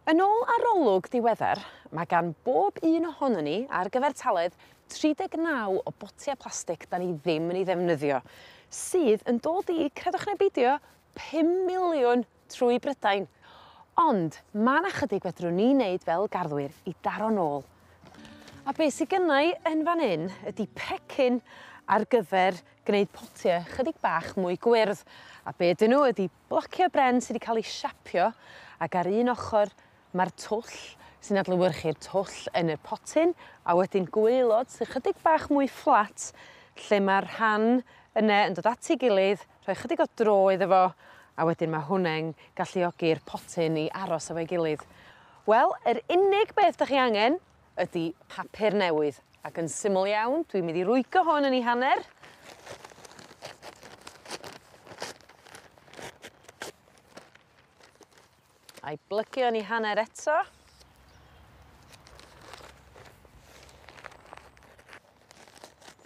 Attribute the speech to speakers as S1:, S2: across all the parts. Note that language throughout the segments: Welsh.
S1: Yn ôl arolwg diweddar ma' gan bob un ohonon ni ar gyfartaledd 39 o botia plastic 'dan ni ddim yn ei ddefnyddio sydd yn dod i, credwch ne' beidio, pum miliwn trwy Brydain! Ond ma' 'na chydig fedrwn ni neud fel garddwyr i daro nôl. A be' sy gynnai yn fan 'yn ydi pecyn ar gyfer gneud potie chydig bach mwy gwyrdd a be' 'dyn n'w ydi Blocio y bren sy 'di ca'l 'i siapio ac ar un ochor ma'r twll sy'n adlewyrchu'r twll yn y potyn a wedyn gwaelod sy chydig bach mwy fflat lle ma'r rhan yne yn dod at 'i gilydd rhoi chydig o dro iddo fo a wedyn ma' hwnne'n galluogi'r potyn i aros efo'i gilydd. Wel yr unig beth 'dach chi angen ydi papur newydd ac yn syml iawn dwi'n mynd i rwygo hwn yn 'i hanner. A'i blygio yn 'i hanner eto.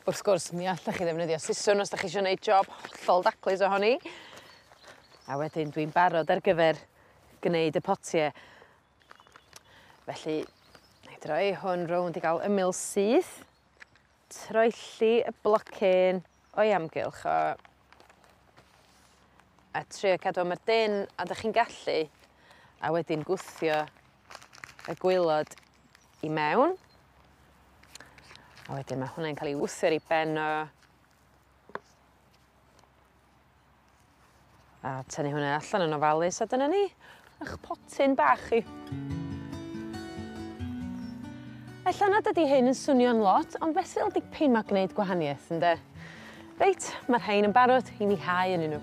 S1: Wrth gwrs mi allech chi ddefnyddio siswrn os 'dach chi isio neud job hollol daclus ohoni. A wedyn dwi'n barod ar gyfer gneud y potie. Felly, nâi droi hwn rownd i ga'l ymyl syth. Troelli y blocyn o'i amgylch o. A trio cadw o mor dynn a 'dych chi'n gallu, a wedyn gwthio y gwaelod i mewn. A wedyn ma' hwnne'n ca'l 'i wthio ar 'i ben o. A tynnu hwnne allan yn ofalus a dyna ni. 'ych potyn bach chi. Ella nad ydi hyn yn swnio'n lot ond fesul dipyn ma' gneud gwahanieth ynde? Reit ma' rhein yn barod i mi hau ynnyn n'w.